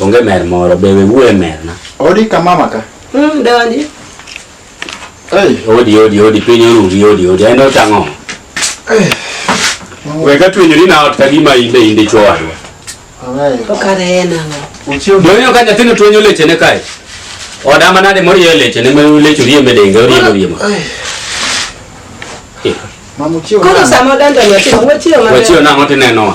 Onge mer moro be we wuoye mer na. Odi ka mama ka. Mm, donji. Hey. Odi odi odi piny oruri odi odi en otang'o. Hey. We ka twenyori na ot ka gima inde inde chwo wadwa. Ameyo. To kare en ang'o? Uchio. Donyo ka nyathino twenyo leche ne kae. Oda manade moriyo leche ne melu leche riye medenge oriye moriye ma. Mamu chio. Kono samo dando nyathino wachiyo maber. Wachiyo nang'o tineno wa.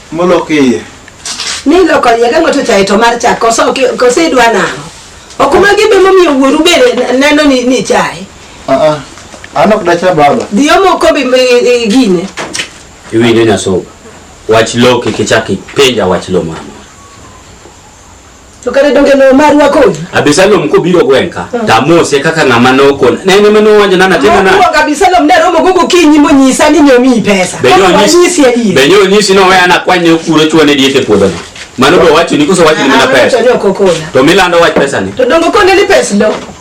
Molok iye. Ni loko iye ka ng'ato chaye to mar chak koso koso idwa nang'o. Ok ma gibe momiyo wuoru be neno ni ni chaye. Ah ah. An ok dacha baba. Dhiyo moko bi i- i- gine. Iwinjo nyasoga. Wach lo kik ichak ipenja wach lo mama. To kare donge no marwa kodi? Abisalom kobiro gwenka, mm. tamose kaka ng'ama nokon. Ne en ema nowanja nana tena na. Mokuongo Abisalom ne romo gogo kinyi monyisa ni nyomi pesa. Benyo onyisi adier. Benyo onyisi no weya nakwanye okuro chwane diet e puodho no. Mano bo wacho ni koso wacho ni mana ah, pesa. To milando wach pesa ni. To dongo kone ni pesa lo.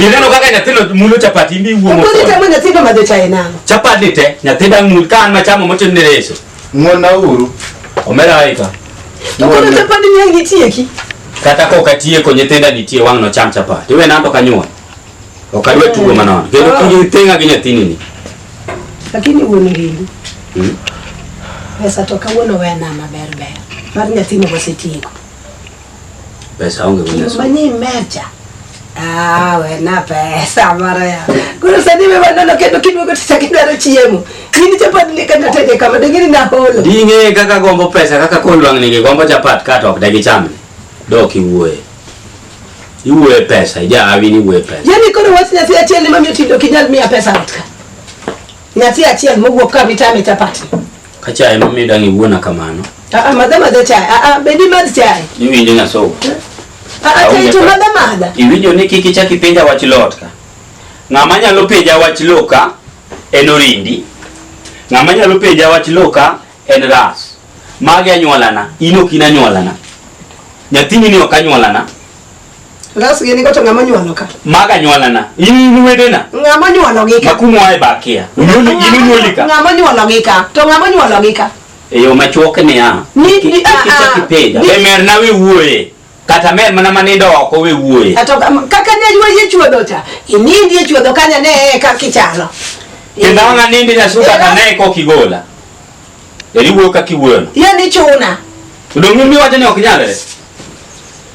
Ineno kaka nyathino mulo chapati imbi wuo mo. Okonyi tamo nyathino madho chae nang'o? Chapati ni te nyathi dang' mul ka an machamo motim ni reso. Ng'wonna uru. Omera aika. Okonyi chapati ni ang' nitieki. Kata ka ok atieko nyithinda nitie wang' nocham chapati. Iwe nanto kanyuon. Ok adwa eh. tugo manono. Kendo ah. kiji teng'a gi nyathini ni. Lakini wuon rindu. Hmm? Pesa to kawuono wena maber ber. Mar nyathino wasetieko. Pesa onge mwenye sura. Mwenye mecha. Ah, we na pesa mara ya. Kuna sadi me maneno kendo kidu ko tisa kidaro chiemo. Nini chapat ni kanda tete kama dengini na holo. Dinge kaka gombo pesa kaka kolwang ni gombo chapat kato ok dagi chame. Doki wuoye. Iwuoye pesa, ija awi ni wuoye pesa. Yaani kono wasi nyasi achiel ni mami otindo kinyal miya pesa otka. Nyasi achiel mogwok ka mitame chapati. Ka chai ma mi dang iwuona kamano. Ah, ah madha madha chai. Ah, ah bedi mad chai. Ni winjo na so. Ah, ah chai to madha madha. Iwinjo ni kiki chaki penja wach lot ka. Ng'ama nyalo penja wach loka en orindi. Ng'ama nyalo penja wach loka en ras. Magi anyuolana, in ok in anyuolana. Nyathini ni ok anyuolana. Ras gini goto ng'ama nyuolo ka? Maga nyuola na. In wede na. Ng'ama nyuolo gi ka? Makumu ae bakia. Unyuoli gini nyuoli ka? Ng'ama nyuolo gi ka? To ng'ama nyuolo gi ka? Eyo machuok ni ya. Ni ni a a. Kichaki peda. Be mer na we wuoye. Kata mer mana manindo oko we wuoye. Ato kaka ne ywa ye chuodo cha. Inindi ye chuodo kanya ne ka kichalo. Kenda wana nindi na suka ka ne ko kigola. Eri wuo ka kiwuoyo. Ye ni chuna. Udongu mi wajani ok nyalere.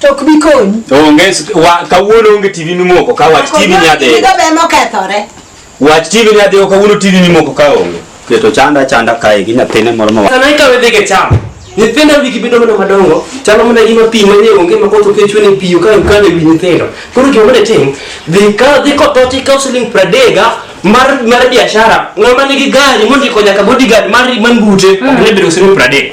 To ok bi konyi. Onge wa kawuono onge TV mimoko ka wach TV nyadhi. Gigo be mokethore. Wach TV nyadhi kawuono TV mimoko ka onge. Keto chanda chanda kae gi nyathine moro ma. Sana ikawe dhige cham. Nyithindo wigi bedo mana madongo, chalo mana gima pi mane onge ma koth okechwe ne pi ka ukale wi nyithindo. Koro gima mane tim, dhi ka dhi ko toti ka siling pradega mar mar biashara, ng'ama nigi gari mondiko nyaka bodyguard mar man bute, ok ne bedo siling pradega.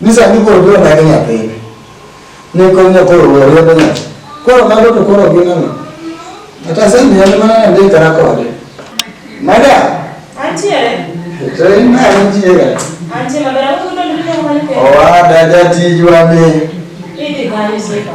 Ni sani koro biro nagi nyathine. Ne konyo koro oriembo nyathi. Koro mago to koro gin ang'o? Kata sani en mana nandikara kode. Madam, Antiere? to in ma nitiere. Antiere maber, akudo ndiko mane pe. Owada jatijwa ni Idhi kanyo sifa.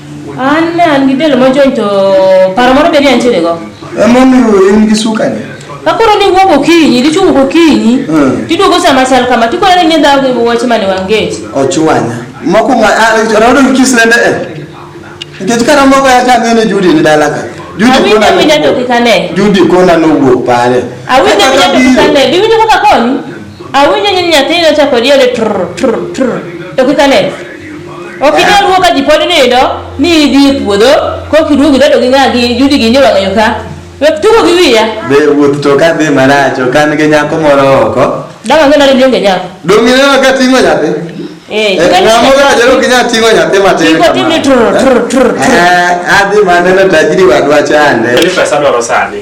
An ne an gi del mojony to paro moro be ne antiere go. Emomiyo in gi sukari. Kakoro ni wuok okinyi, dichung' okinyi, Mm. tiduogo sama chal kama, tikoro ni ng'e dhawo gi wach mane wangech. Ochwanya. Mokuongo rodo gi kisende e. Nikech kata moko ya ka ng'ene Judy ni dala ka. Judy Awinjo kona awinja to kik ane. Judy kona nowuok pare. Awinjo awinja to kik ane. Biwinjo kaka konyi? Awinjo ni nyathini ochako diode trr trr trr. To kik ane. Ok inyal wuo ka ji pod nindo ni idhi e puodho kok iduogo idado gi ng'a gi judi gi nyo wang'ayo ka. Wek tugo gi wiya. Be wuoth to ka dhi marach ok an gi nyako moro oko. Dang' ang'e nade ni onge nyako. Dong' ineno ka ting'o nyathi? Eh, Eh, ikani- Ng'amo rach ok inyal ting'o nyathi matin Chiko tim ni tur, tur, tur, tur. Eh, adhi maneno tajiri wadwa chande. Kele pesa dwaro sani.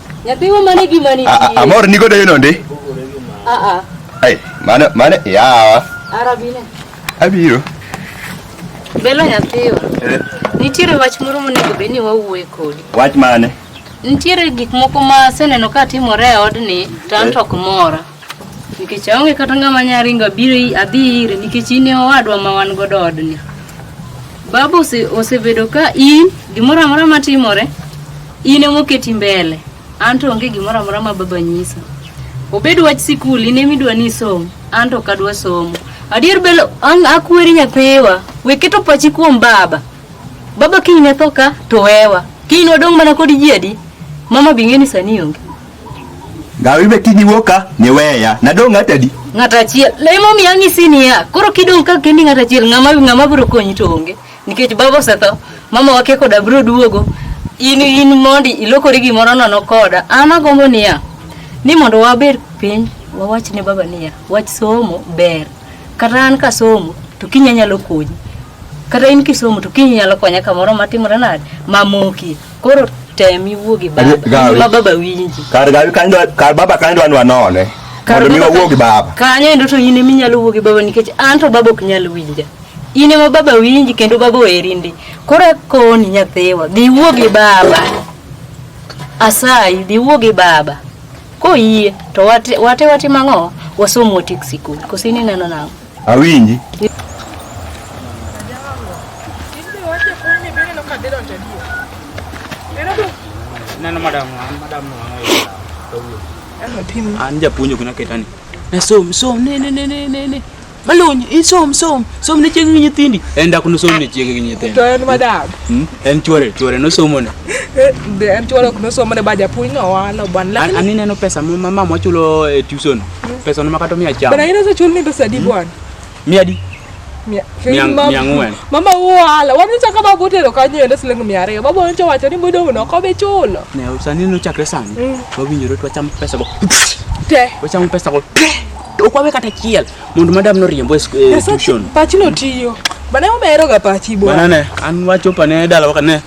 Nyathi wa mane gima ni. Amor ni godo yeno ndi. A a. Ai, mane mane yawa. Arabine. Abiro. Belo nyathiwa. Eh. Nitiere wach moro monego bed ni wawuoye kodi. Wach mane? Nitiere gik moko ma aseneno ka timore e odni to an eh. to ok mora. Nikech aonge kata ng'ama nya ringo abiro adhi ire nikech in e owadwa ma wan godo odni. Babu osebedo ka in gimoro amora matimore in emoketi mbele an to onge gimoro amora ma baba nyisa. Obed wach sikul in emidwa ni isom an to ok adwa somo. Adier belo akweri nyathiwa we keto pachi kuom baba. Baba kiny ne tho ka to wewa. Kiny wadong' mana kod ji adi? Mama bing'e ni sani onge. Gawi be tini woka ni weya. Nadong ng'ata di? Ng'ata achiel. Lemo mi ang'i sini ya. Koro kidong ka kendi ng'ata achiel ng'ama ng'ama bro konyi to onge. Nikech baba osetho. Mama wake koda bro duogo. In in mondi ilokori gimoro nono koda. An agombo niya. Ni mondo wabed piny wawach ne baba niya. Wach somo ber. Kata an ka somo to kinya nyalo konyi. kata in kisomo to kiny nyalo konya kamoro matimore nade mamoki koro tem iwuo gi baba Gawi. ma baba winji kar gawi kanyo dwa- kar baba kanyo dwa ni wanone Kar mondo mi baba wawuo ka- gi baba kanyo endo to in eminyalo wuo gi baba nikech an to baba ok nyal winja in ema baba winji kendo baba oheri ndi koro akoni nyathiwa dhi wuo gi baba asayi dhi wuo gi baba koyie to wate wate watim ang'o wasom watik sikul koso in ineno nang'o Awinji. Neno madam, madam wangu. An japuonjo kuna ketani. Na som som ne ne ne ne ne. Malony, isom som, som ne chiege gi nyithindi. En dak no som ne chiege gi nyithindi. To en madam. Hmm? En chwore, chwore no somo ne. Eh, en chwore ok no somo ne ba japuonj no wano ban. An aneno pesa ma mama wachulo e tuition. Pesa unama kata mia chama. Bana ina za chulni ndo sadi hmm? bwana. Mia di. Mia. Mia ng'wen. Mama uwala. Wanuncha kama bote lo kanyo yende silingi mia ariyo. Baba wanuncha wacho ni mwido uno kobe chulo. Ne usani no chakre sani. Hmm. Wawinjore tu wacham pesa go. Te. Wacham pesa go. Ukwawe kata chiel. Mundu madam no riembo eh, tuition. Pachi no tiyo. Bana umeero ga pachi bwana. Bana ne. An wacho pane dala wakane.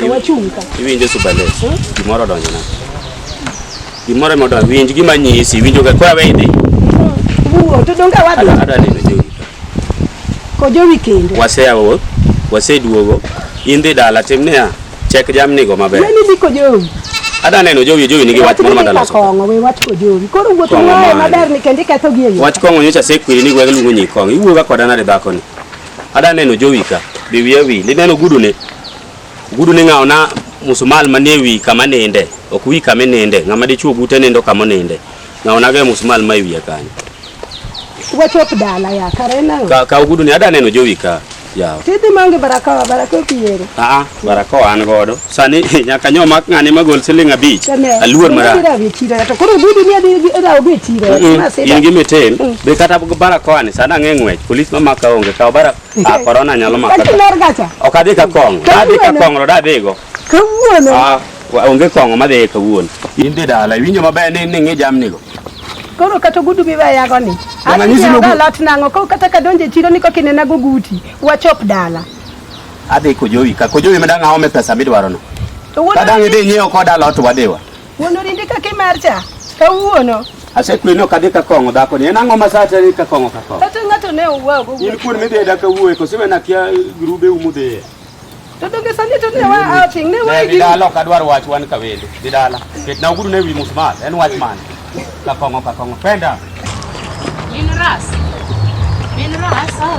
To wachung' ka. Iwinjo Subalet. Gimoro odonjona. Gimoro ema odonjo. Winj gima nyisi, iwinjo ka kwa wendi. Wuo, to donge wadhi. Ada ada neno jowi. Ko jowi kendo. Waseyawo, waseduogo. In dhi dala tim niya, chek jamnigo maber. Yeni dhi ko jowi. Ada neno jowi, jowi nigi wach moro madala loso. Kong'o we wach ko jowi. Koro wuoth Kong'o wae mane? maber ni kendo iketho gi e yo. Wach kong'o nyocha asekwiri ni gweng' luongo nyikong'. Iwuoga koda nade dhakoni? Ada neno jowi ka, be wiya wi, lineno gudune. Gudune ng'awo na musumal manie wi kama ninde, ok wi kama ninde, ng'ama dichuo gute nindo kama ninde. Ng'awo na ga musumal ma e wiya kanyo. Wachop dala ya, kare nang'o? Ka, ka gudune, ada neno jowi ka, yawa. Tidhi mangi baraka, baraka opiero. Aa, Barakoa an godo. Sani nyaka nyo mak ng'ani magol siling abich. Aluor mara. To koro budi ni adi era obe chiro. In gi mitin. Mm. Be kata barakoa ni sana ng'e ng'wech. Polis ma maka onge kaw bara. Ah corona nyalo maka. Ok adhi ka kong. Adhi ka kong roda adhigo. Kawuono. Ah onge kong'o madhi kawuono. In dhi dala iwinjo maber ni ni ng'i jamnigo. koro kata ogudu miweyago ni alot nang'o koro kata kadonje chiro ni kokinena goguti wachop dala Adhi kojowi ka kojowi ma dang' aome pesa midwarono. To wuon Ka dang' idhi nyiewo koda lot wadiwa. wuon orindi kaka imar cha kawuono Asekweno kadhi ka kong'o dhako ni en ang'o ma sate ni ka kong'o ka kong'o. kata ng'ato ne owuogo In kuon midhi e daka wuoye koso wena kia grube umu dhiye. to donge sani to ne wa outing ne wa Ne dhi dala ok adwar wach wan ka wendo. Dhi dala. Ketna ogudu ne wi musmal. En wach mane? Kakongo kakongo. Penda. Min ras. Min ras. Ah.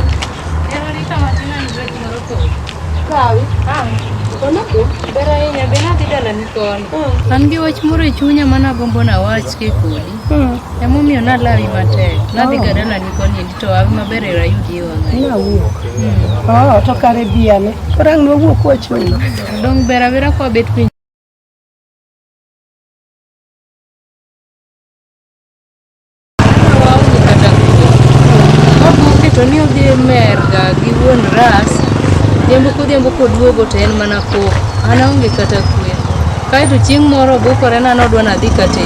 Ero rita matina ni dwe moro ko. Kawi. Ah. Kono ko. Bera inya bena dida la nikon. Hmm. An gi wach moro e chunya mana gombo na wach ke kodi. Hmm. Emo miyo na lawi matek. Na dhi oh. gada la nikon ni to awi maber era yudi e wanga. Na wuo. Hmm. Oh, to kare biane. Korang no wuo kwa chunya. Dong bera bera kwa bet piny. to ni odhi e merga gi wuon ras odhiambo kodhiambo koduogo to en mana koko an aonge kata kwe kaeto chieng' moro obukore na nodwa nadhi kate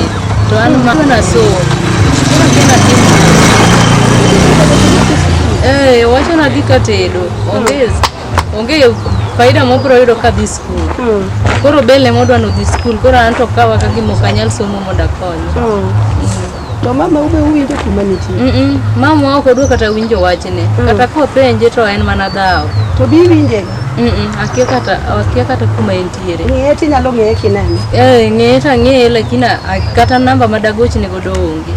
to an mana nasomo ee eh, owacho nadhi katedo ongezi Onge faida mobro yudo ka dhi skul. Mm. Koro bel ema odwa nodhi skul, koro an to kawa ka gima ok anyal somo mondo akonye. Mm. Mm. To mama ube uwinjo kuma nitie? Mm -mm. Mama ok odwa kata winjo wachne. Mm. Kata kopenje to en mana dhawo. To bi winje? Mm -mm. Akia kata akia kata kuma entiere. Ng'eye ti nyalo ng'eye kinani? Eh, ng'eye ta ng'eye lakini kata namba madagochne godo onge.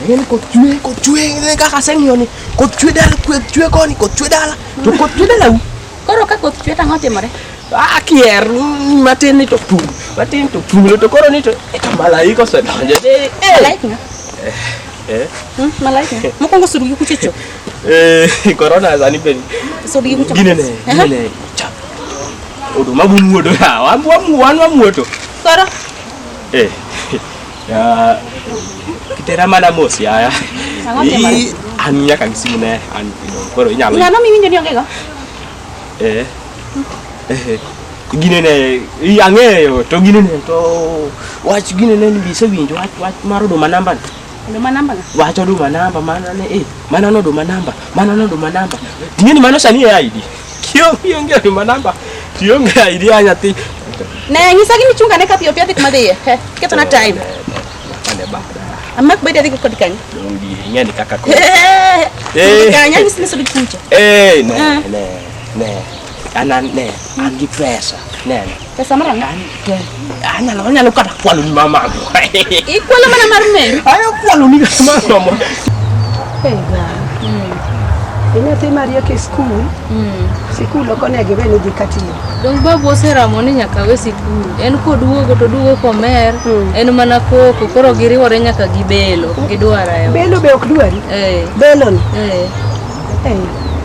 Ngene ko chue ko chue ngene ka kaseng yoni ko chue dal ko chue koni ko chue dal to ko chue dal Koro ka koth chwe tang'o timore? Ah, kier matin ni to pum. Matin to pum to koro ni to eh, malaika osedonjo. Eh, eh. malaika. Eh. Eh. Hmm, malaika. Mokwongo surugi kuchecho. Eh, corona sani bende. Surugi kuchecho. Gine ne, gine ne. Cha. Odo mabu muodo ya. Wamu wamu wanu wamuoto. Koro. Eh. Ya kitera mana mosi haya. Hii ania kabisa mune ani kidogo. Kwa hiyo inyalo. Ngano mimi ndio niongego? Eh. Eh. Gine ne i angeyo to gine ne to wach gine ne ni bise winjo wach wach maro do manamba. Do manamba. Wach do manamba mana ne eh mana no do manamba mana no do manamba. Tinyeni mano sani ya ID. kiongiongea nyuma namba tiongea ili anya ti ne ngisa gini chunga ne kapi opia tikma de he keto na time ane ba amma ko bede ko dikani dongi nya ni kaka ko eh dikanya ni sini sudi kucha eh ne ne ne ana ne angi pesa ne Pesa mara ngani? Ana la wanya lukata kwa luni mama. Ikuwa la mana marumeri. Ayo kwa luni kama mama. Pesa. Ina te maria ke school. Mm. School loko ne gebe ni dikati. Dong ba bo sera moni nyaka we school. En ko duwo go to duwo ko mer. Mm. En mana ko ko koro giri wore nyaka gibelo. Gidwara yo. Belo be ok duwari. Eh. Belon. Eh. Eh.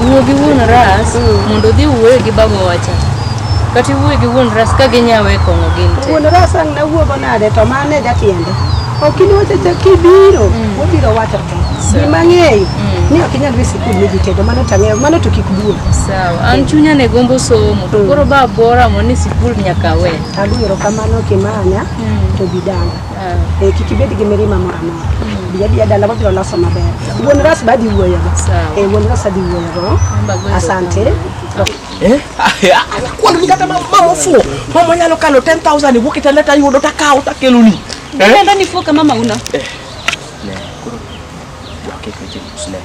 Wuo gi wuon ras mm. mondo odhi wuoyo gi baba wacha. Kata iwuoyo gi wuon ras ka ginyawe e kong'o gin te. Wuon ras ang' na wuogo nade to mane jatiende. Ok in wacho cha kibiro, mm. wabiro wacho te. Gima ng'eyo mm. ni ok inyal dhi sikul ni jitedo mano to ang'eyo mano to kik duogo. Sawa. An mm. chunya ne gombo somo to koro ba bora mo ni sikul nyaka we. Agwero kamano kimanya to bidanga. Eh, kik ibed gi mirima moro amora biya biya dala wabiro loso maber wuon ras ba dhi wuoyogo Eh, wuon ras adhi wuoyogo asante Eh? Kwani kata ma- mama ofuo. Mama nyalo kano 10,000 iwuok e taleta yudo takawo takeloni. Nenda nifuo kama mauna. Koro dwake kweche musle.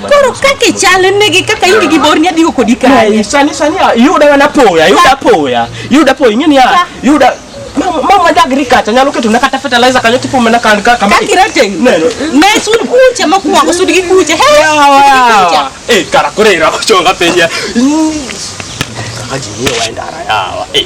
Koro kaka ichalnegi kaka in gi borni adhigo kodi kae. Sani sani yuda mana poya, yuda poya, yuda poya ing'e niya, yuda mama dagri kacha nyalo keto na kata fertilizer kanyo tipo mana kan ka kama kakira teng neno ne sun kuche makwako sun gi kuche he yawa eh kara kore ira kuchonga penya kaka jini waenda ara yawa eh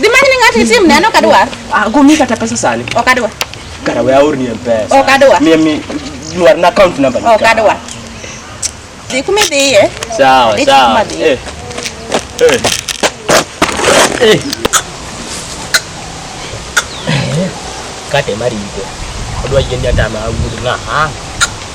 Dhi many ni ng'ato itim neno ok adwar. Ah, go mi kata pesa sani. Ok adwar. Kara we aor ni pesa. Ok adwar. Mia mi nwar na account number. Ok adwar. Dhi kuma idhiye. Sawa, sawa. Eh. Eh. Eh. Kate marigo. Odwa yien nyata ma wuod ng'a.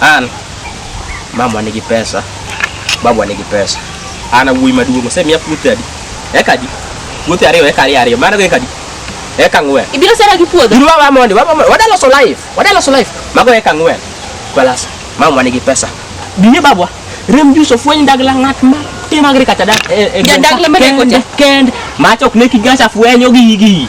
An mama nigi pesa, babu nigi pesa. Ana wuoyi maduong' osemiya puothe adi? Eka adi? Puothe ariyo, eka ariyo ariyo. Mano eka adi? Eka ng'wen. Ibiro sera gi puodho. Duru wa mondi, wa mondi. Wadalo so life. Wadalo so life. Mago eka ng'wen. Kwalas, mama nigi pesa. Biye babwa. Rem juso fweny dagla ng'at ma timagri kata dak. Eh, eh, Jadagla ma deko cha. Kend, machok ne kigacha fwenyo gigi.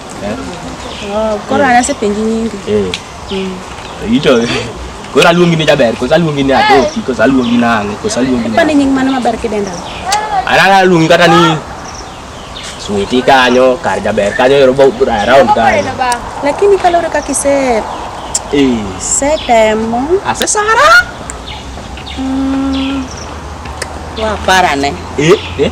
Eh? Oh, koro an asepenji nyingi. Eh. Mm. Ito. Koro aluongi ni jaber, kosa aluongi ni atoki, ah, kosa aluongi nang'o, kosa aluongi ni. Mane nying mano maber kidenda. Ana aluongi kata ni switi kanyo, kar jaber kanyo ero bo around kanyo. Lakini kalore kakise eh setemo. Ase sara. Mm. Wa parane. Eh, eh.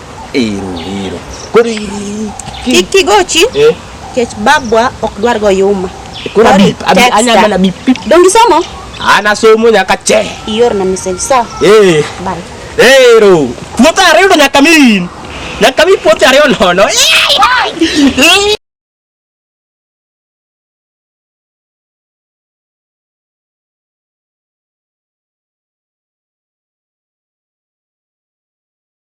Ero, ero. Koro kik kigochi eh? kech babwa ok dwar go yuma. Koro abi abi anya mana bi pip. Dongi somo? Ana somo nyaka che. Ior na message sa. Eh. Bye. Ero. Puota ariyo nyaka min. Nyaka mi puota ariyo nono.